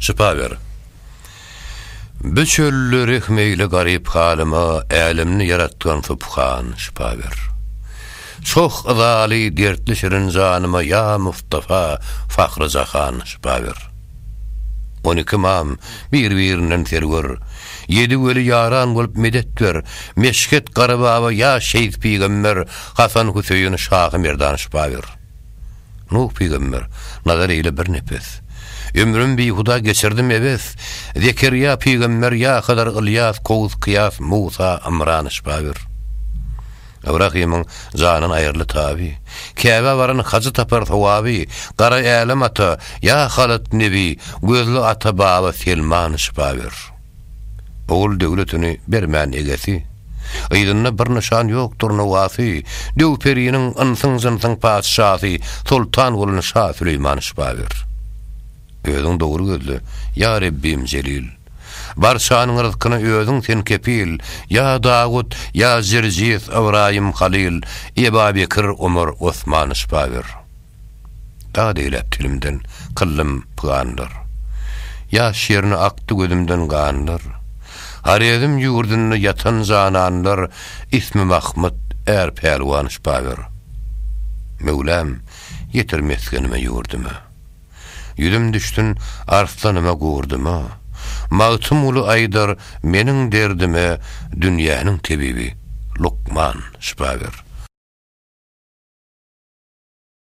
Şypa ber. Bu çölde rehmeýli garyp halyma Älemni ýaratgan subhan, şypa ber. Çoh yzaly dertli şirin janyma Ýa Mustafa, Fahry Jahan, şypa ber. On iki ymam, bir-birinden serwer, Ýedi weli ýaran bolup medet ber, Meşhet Garybaba ýa Şeýh Pygamber, Hasan Hüseýin, Şahy Merdan, şypa ber. Nuh pygamber, Nazar eýle bir nepes. Ömrüm bihuda geçirdim ebes. Zekerýa pygamber, ýa Hydyr, Ylýas, Kowus, Kyýas, Musa, Ymran, Şpabir. Ybrahymyň janyn aýyrly taby. Käbä baran hajy tapar sowaby. Gara Älem ata, ýa Halyt nebi, Gözli ata-baba Selman, Şpabir. Ogul döwletini bermän egesi, Yzynda bir nyşan ýokdur nowasy, Döw periniň, ynsyň-jynsyň patyşasy, Soltan bolan şa Süleýman şypa ber. Özüň dogry gözle, ýa Rebbim Jelil, Barçanyň ryzkyna özüň sen kepil, Ýa Dawut, ýa Jirjis, Ybraýym, Halyl, Eba Bekir, Omar, Osman şypa ber. Dad eýläp telimden kyllym pyganlar. Ýaş ýerine akdy gözümden ganlar. Horezm ýurdunda ýatan jananlar ismi Mahmyt, är pälwan şpagyr. Möwlam, ýetir mesgenime ýurduma. Ýüzüm düşsün arslanyma gurdyma. Magtymguly aýdar meniň derdime dünýäniň tebibi, lukman, şpagyr.